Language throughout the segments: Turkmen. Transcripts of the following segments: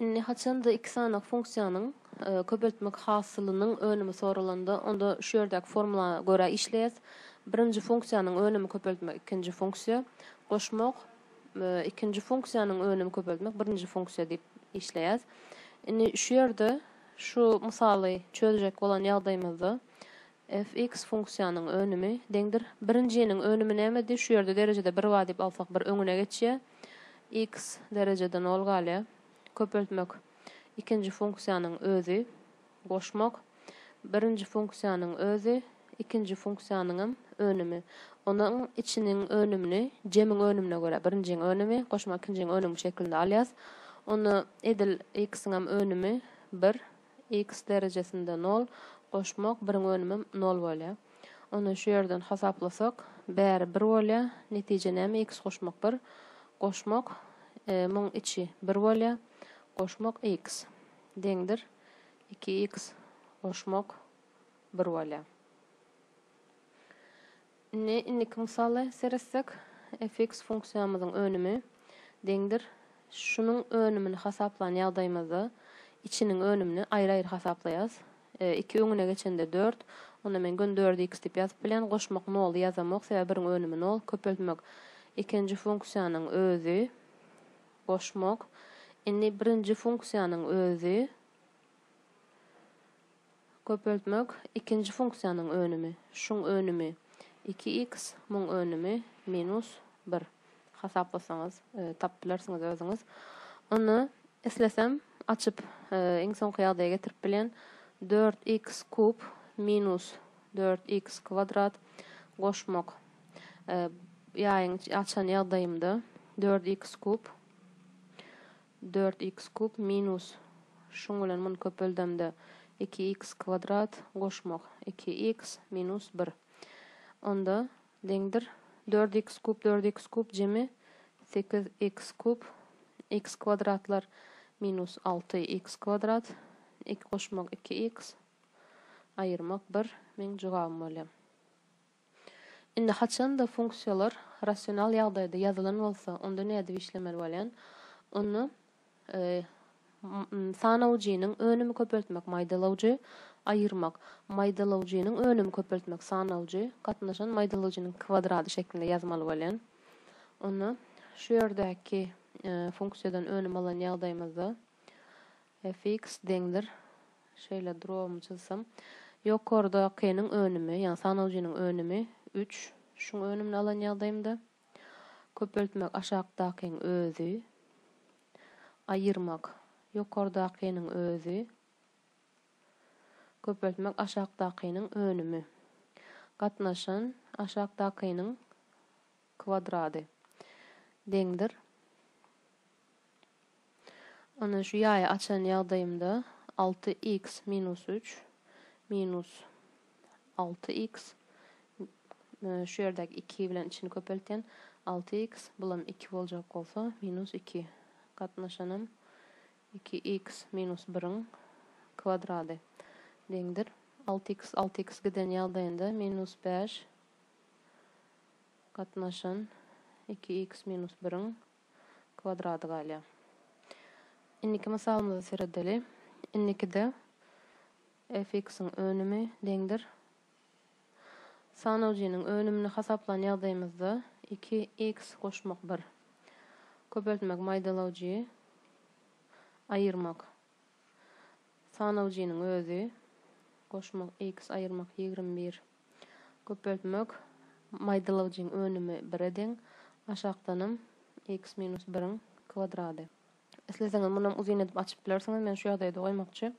Indi haçanda iki sany funksiýanyň köpeltmek hasylynyň önümi soralanda, onda şu ýerdäki formula görä işleýäs. Birinji funksiýanyň önümi köpeltmek ikinji funksiýa goşmak, ikinji funksiýanyň önümi köpeltmek birinji funksiýa diýip işleýäs. Indi şu ýerde şu mysaly çözjek bolan ýagdaýymyzda Fx funksiýanyň önümi, deňdir. Birinjiniň önümi nämedi? Şu ýerde derejede bir bar diýip alsak bir öňüne geçýär. X derejede nol galýar. Köpeltmek, ikinji funksiýanyň özi. Goşmak, birinji funksiýanyň özi, ikinji funksiýanyňam önümi. Onuň içiniň önümini jemiň önümine görä, birinjiň önümi goşmak ikinjiň önümi şeklinde alýas. Onda edil x-iňem önümi bir, X derejesinde nol goşmak biriň önümem nol bolýar. Onda şu ýerden hasaplasak bäri bir bolýar. Netije näme X goşmak bir goşmak muň içi bir bolýar. Goşmak X deňdir iki X goşmak bir bolýar. Indi indiki mysaly seretsek, fx funksiýamyzyň önümi deňdir şunuň önümini hasaplan ýagdaýymyzda içiniň önümini aýry-aýry hasaplaýas. Iki öňüne geçende dört, onda men göni dördi x diýip ýazyp bilen, goşmak noly ýazamok, sebäbi biriň önümi nol, köpeltmek ikinji funksiýanyň özi, goşmak, indi birinji funksiýanyň özi, Köpeltmek, ikinji funksiýanyň önümi, şuň önümi, iki iks, muň önümi, minus bir. Hasaplasaňyz, tapyp bilersiňiz özüňiz. Onda, islesem, açyp, iň soňky ýagdaýa getirip bilýän, dört iks kub minus dört iks kwadrat goşmak, ýaýyň açan ýagdaýymda, dört iks kub Dört iks kub minus, şuň bilen muny köpeldemde, iki iks kwadrat, goşmak, iki iks minus bir. Onda, deňdir, dört iks kub, dört iks kub, jemi, sekiz iks kub, iks kwadratlar, minus alty iks kwadrat, iki goşmak, iki iks, aýyrmak, bir, meň jogabym bolýar. Indi haçan-da funksiýalar rasional ýagdaýda ýazylan bolsa, onda nädip işlemeli bolýan? Onda sanawjynyň önümi köpeltmek maýdalawjy, aýyrmak, maýdalawjynyň önümi köpeltmek sanawjy, gatnaşan maýdalawjynyň kwadrady şeklinde ýazmaly bolýan. Onda şu ýerdäki funksiýadan önüm alan ýagdaýymyzda, Fx deňdir. Şeýle drobymy çyzsam. Ýokardakynyň önümi, ýagny sanawjynyň önümi, üç. Şuň önümini alan ýagdaýymda. Köpeltmek aşakdakyň özi. Aýyrmak ýokardakynyň özi. Köpeltmek aşakdakynyň önümi. Gatnaşan aşakdakynyň kvadrady deňdir. Indi şu ýaýy açan ýagdaýymda alty iks minus üç minus alty iks şu ýerdäki iki bilen içini köpeltýän alty iks bulam iki boljak bolsa minus iki gatnaşanam iki iks minus biriň kvadrady deňdir. Alty iks alty iks giden ýagdaýynda minus bäş gatnaşan iki x minus biriň kwadrady galýar. Indiki mysalymyza seredeli. Indikide fx-iň önümi deňdir. Sanawjynyň önümini hasaplan ýagdaýymyzda iki x goşmak bir. Köpeltmek maýdalawjy aýyrmak sanawjynyň özi goşmak x aýyrmak ýigrimi bir. Köpeltmek, Maýdalygyjyň önümi bire deň, aşakdanam x minus biriň kwadrady. Isleseňiz munam uzyn edip açyp bilersiňiz, men şu ýagdaýda goýmakçy.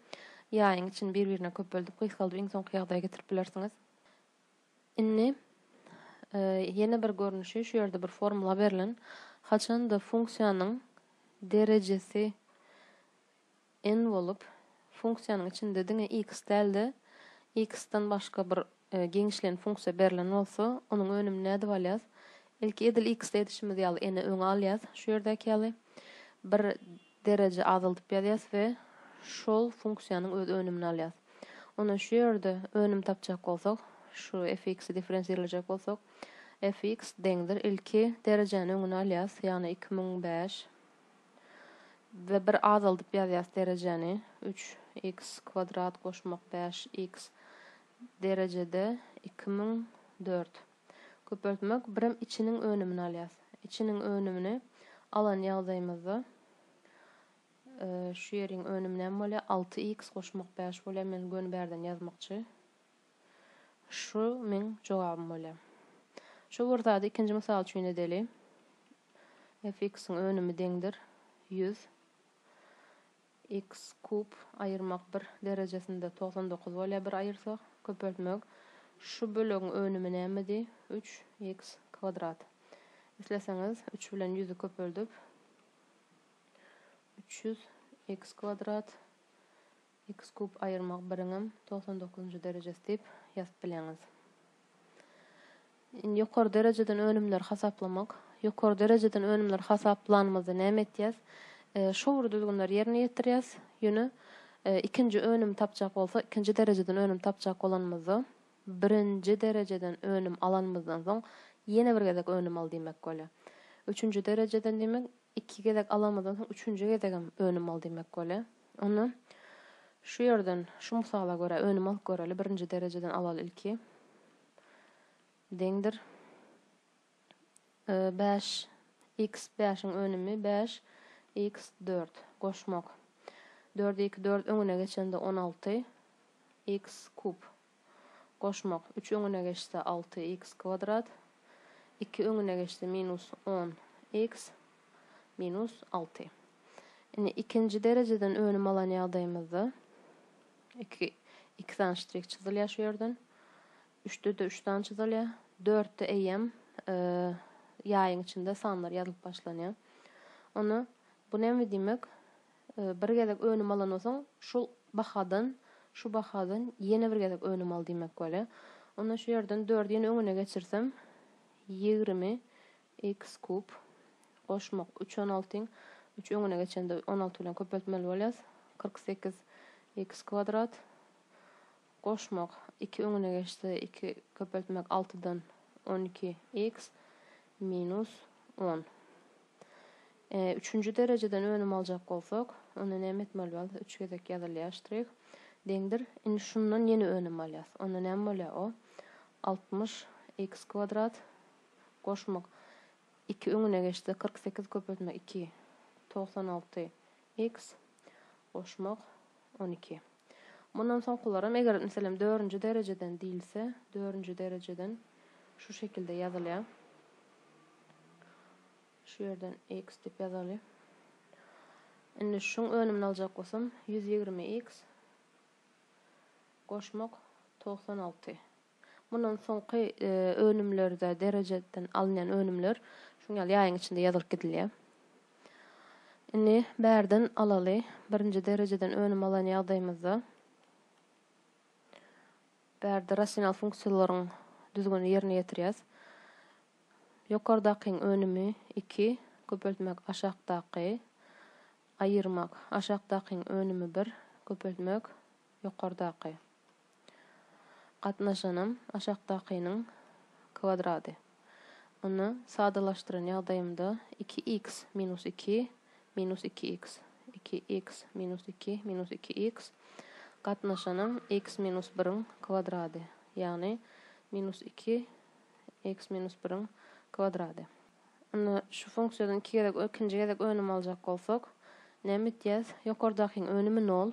Ýaýyň içini bir-birine köpeldip, gysgaldyp iň soňky ýagdaýa getirip bilersiňiz. Indi ýene bir görnüşi, şu ýerde bir formula berlen. Haçanda funksiýanyň derejesi. N bolup, funksiýanyň içinde diňe X däl-de, X-den başga bir giňişleýin funksiýa berlen bolsa, onuň önümini nädip alýas? Ilki edil X-de edişimiz ýaly N-i öňe alýas, şu ýerdäki ýaly, bir dereje azaldyp ýazýas we şol funksiýanyň öz önümini alýas. Onda şu ýerde önüm tapjak bolsak, şu fx-i differensirlejek bolsak, fx deňdir, ilki derejäni öňüne alýas, ýagny iki müň bäş. we bir azaldyp ýazýas derejäni, üç iks kwadrat goşmak bäş iks derejede iki müň dört. Köpeltmek birem içiniň önümini alýas. Içiniň önümini alan ýagdaýymyzda şu ýeriň önümi näme bolýar? Alty iks goşmak bäş bolýar, men göni bärden ýazmakçy. Şu meň jogabym bolýar. Şu bir zady ikinji mysal üçin edeli. Fx-iň önümi deňdir, ýüz. X kub aýyrmak bir derejesinde togsan dokuz bolýar bir aýyrsak. Köpeltmek. Şu bölegiň önümi nämedi? Üç x kwadrat. Isleseňiz, üç bilen ýüzi köpeldip, üç ýüz x kwadrat X kub aýyrmagy biriňem togsan dokuzynjy derejesi diýip ýazyp bileňiz. Indi ýokary derejeden önümleri hasaplamak. Ýokary derejeden önümleri hasaplanymyzda näme etýäs? Şowly düzgünleri ýerine ýetirýäs. Ýöne ikinji önümi tapjak bolsa, ikinji derejeden önüm tapjak bolanymyzda, birinji derejeden önüm alanymyzdan soň ýene bir gezek önüm al diýmek bolýar. Üçünji derejeden diýmek, iki gezek alanymyzdan soň üçünji gezegem önüm al diýmek bolýar. Onda şu ýerden, şu mysala görä önüm alyp göreli, birinji derejeden alaly ilki. Deňdir. Bäş x bäşiň önümi bäş x dört. Goşmak. Dördi iki dört öňüne geçende on alty x kub. goşmak, üç öňüne geçse, alty iks kwadrat, iki öňüne geçse, minus on iks minus alty. Indi ikinji derejeden önüm alan ýagdaýymyzda iki iki sany ştrik çyzylýar şu ýerden. Üçde-de üç sany çyzylýar. Dörtde eýýäm ýaýyň içinde sanlar ýazylyp başlanýar. Onda bu näme diýmek? Bir gezek önüm alandan soň şul bahadan, şu bahadan ýene bir gezek önüm al diýmek bolýa. Onda şu ýerden dördi ýene öňüne geçirsem ýigrimi x kub goşmak üç on altyň üç öňüne geçende on alty bilen köpeltmeli bolýas kyrk sekiz x kwadrat goşmak iki öňüne geçse iki köpeltmek altydan on iki x minus on Üçünji derejeden önüm aljak bolsak, onda näme etmeli bolýar? Üç gezek ýazylýar ştrih. Deňdir. Indi şundan ýene önüm alýas. Onda näme bolýar? O, altmyş iks kwadrat goşmak iki öňüne geçse, kyrk sekiz köpeltmek iki, togsan alty iks goşmak on iki. Mundan soňkularam, eger, meselem, dördünji derejeden diýilse, dördünji derejeden şu şekilde ýazylýar. Şu ýerden x diýip ýazaly. Indi şuň önümini aljak bolsam, 120x goşmak 96. Mundan soňky önümlerde derejeden alynýan önümler şuň ýaly ýaýyň içinde ýazylyp gidilýär. Indi bärden alaly, birinji derejeden önüm alan ýagdaýymyzda bärde rasional funksiýalaryň düzgünini ýerine ýetirýäs. Ýokardakyň önümi iki, köpeltmek aşakdaky, aýyrmak aşakdakyň önümi bir, köpeltmek ýokardaky. Gatnaşanam aşakdakynyň kwadrady. Ony sadalaşdyran ýagdaýymda iki x minus iki minus iki x, iki x minus iki minus iki x, gatnaşanam x minus biriň kwadrady, ýagny minus iki x minus biriň kwadrady. Indi şu funksiýadan iki gezek ikinji gezek önüm aljak bolsak, näme etýäs? Ýokardakyň önümi nol.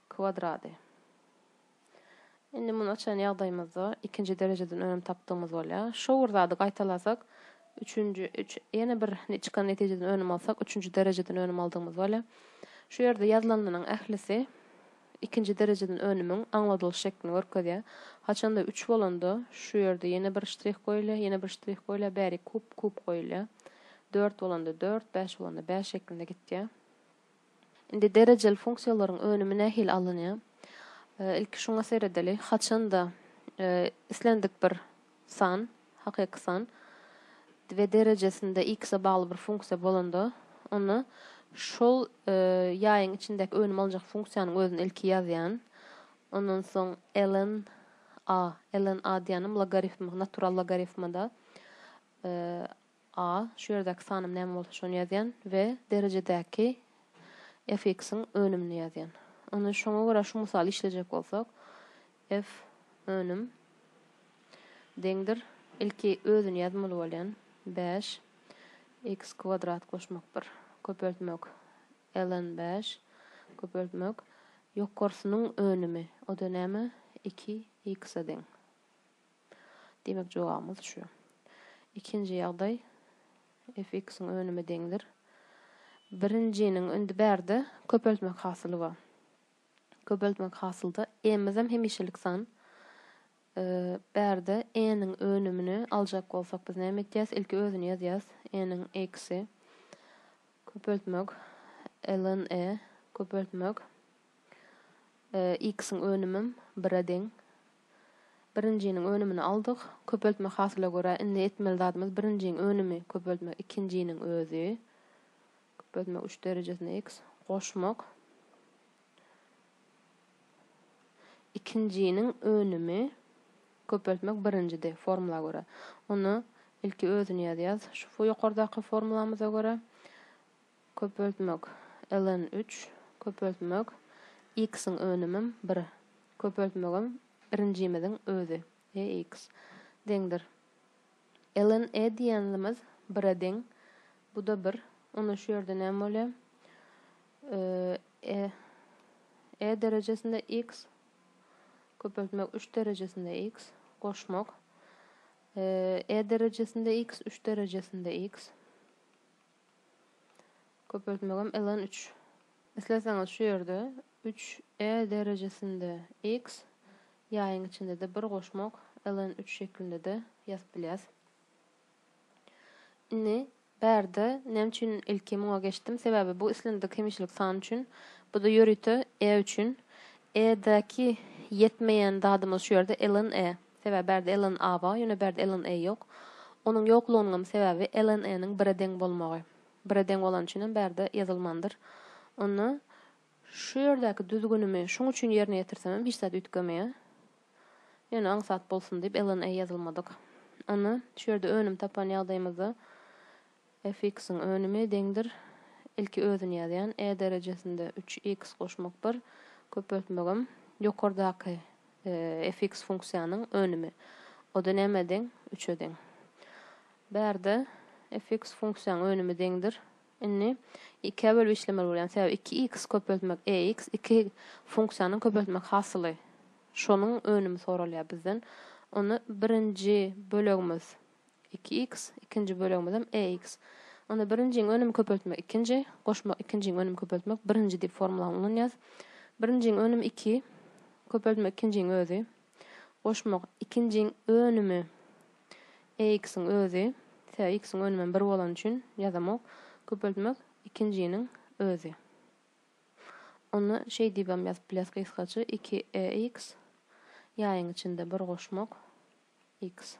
Kvadrady. Indi muny açan ýagdaýymyzda ikinji derejeden önem tapdygymyz bolýar. Şo bir zady gaýtalasak, üçünji, üç, ýene bir çykan netijeden önem alsak, üçünji derejeden önem aldygymyz bolýar. Şu ýerde ýazylanynyň ählisi ikinji derejeden önümiň aňladylyş şeklini görkezýär. Haçanda üç bolanda, şu ýerde ýene bir ştrih goýulýar, ýene bir ştrih goýulýar, bäri kub, kub goýulýar. Dört bolanda dört, bäş bolanda bäş şeklinde gitýär. Indi derejeli funksiýalaryň önümi nähili alynýar? Ilki şuňa seredeli. Haçan-da islendik bir san, hakyky san, we derejesinde x-e bagly bir funksiýa bolanda, onda şol ýaýyň içindäki önümi aljak funksiýanyň özüni ilki ýazýan. Ondan soň ln a, ln a diýýänim logarifm, natural logarifmada, A, şu ýerdäki sanym näme bolsa şony ýazýan we derejedäki fx-iň önümini ýazýan. Indi şoňa görä şu mysaly işlejek bolsak, f önüm deňdir, ilki özüni ýazmaly bolýan, bäş x kwadrat goşmak bir, köpeltmek ln bäş, köpeltmek ýokarsynyň önümi, o-da näme, iki x-e deň. Demek jogabymyz şu. Ikinji ýagdaý fx-iň önüme deňdir. Birinjiniň indi bärde köpeltmek hasyly bar. Köpeltmek hasylda e-mizem hemişelik san. Bärde e-niň önümini aljak bolsak biz näme etýäs? Ilki özüni ýazýas. E-niň x-i köpeltmek ln e köpeltmek x-iň önümim bire deň. Birinjiniň önümini aldyk. Köpeltme hasyla görä indi etmeli zadymyz birinjiň önümi köpeltmek ikinjiniň özi. Köpeltmek üç derejesine x goşmak. Ikinjiniň önümi köpeltmek birinjidi formula görä. Onda ilki özüni ýazýas. Şu ýokardaky formulamyza görä Köpeltmek, ln üç, köpeltmek, x-iň önümim bir, köpeltmegim birinjimiziň özi, ex, deňdir. Ln e diýenlimiz bire deň, bu-da bir, onda şu ýerde näme bolýar? e, e derejesinde x, köpeltmek üç derejesinde x, goşmak, e derejesinde x, üç derejesinde x, Köpeltmegem ln üç. Isleseňiz şu ýerde üç e derejesinde x ýaýyň içinde-de bir goşmak ln üç şeklinde-de ýazyp bilýäs. Indi bärde näme üçin ilki muňa geçdim? Sebäbi bu islendik hemişelik san üçin, bu-da ýörite e üçin. E-däki ýetmeýän zadymyz şu ýerde ln e. Sebäbi bärde Ellen A bar, ýöne bärde Ellen E ýok. Onuň ýoklugynyňam sebäbi Ellen E-niň bire deň bolmagy. Bire deň bolany üçinem bärde ýazylmandyr. Onda şu ýerdäki düzgünimi şuň üçin ýerine ýetirsemem hiç zat üýtgemeýär. Ýöne aňsat bolsun diýip Ellen E ýazylmadyk. Onda şu ýerde önüm tapan ýagdaýymyzda Fx-iň önümi deňdir ilki özüni ýazýan, e derejesinde üç x goşmak bir, köpeltmegem ýokardaky fx funksiýanyň önümi. O-da nämä deň? Üçe deň. Bärde fx funksiýaň önümi deňdir. Indi ikä bölüp işlemeli bolýan, sebäbi iki x köpeltmek ex, iki funksiýanyň köpeltmek hasyly. Şonuň önümi soralýar bizden. Onda birinji bölegimiz Iki iks, ikinji bölegimizem e iks. Onda birinjiň önümi köpeltmek ikinji, goşmak ikinjiň önümi köpeltmek birinji diýip formulany ulanýarys. Birinjiň önümi iki, köpeltmek ikinjiň özi, goşmak ikinjiň önümi e iksiň özi, sebäbi iksiň önümem bir bolany üçin ýazamok, köpeltmek ikinjiniň özi. Onda şeý diýibem ýazyp bilýäris gysgaça, iki e iks, ýaýyň içinde bir goşmak iks.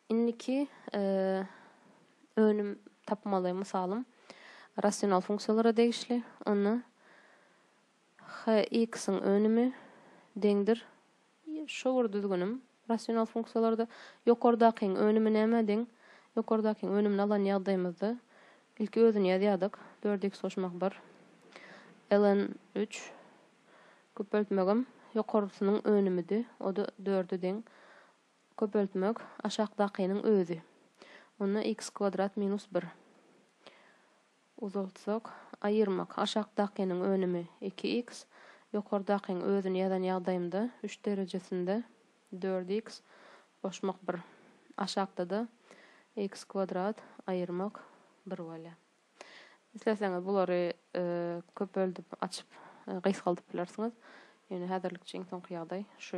Indiki önüm tapmaly mysalym rasional funksiýalara degişli. Onda hx-iň önümi deňdir Şu bir düzgünim rasional funksiýalarda ýokardakyň önümi nämä deň? Ýokardakyň önümini alan ýagdaýymyzda ilki özüni ýazýardyk, dört x goşmak bir ln üç Köpeltmegem ýokarsynyň önümidi, o-da dörde deň. Köpeltmek aşakdakynyň özi. Onda x kwadrat minus bir. Uzaltsak, aýyrmak aşakdakynyň önümi iki x, ýokardakyň özüni ýazan ýagdaýymda üç derejesinde dört x, goşmak bir. Aşakda-da x kwadrat aýyrmak bir bolýar. Isleseňiz bulary köpeldip açyp gysgaldyp bilersiňiz. Ýöne häzirlikçe iň soňky ýagdaý şu.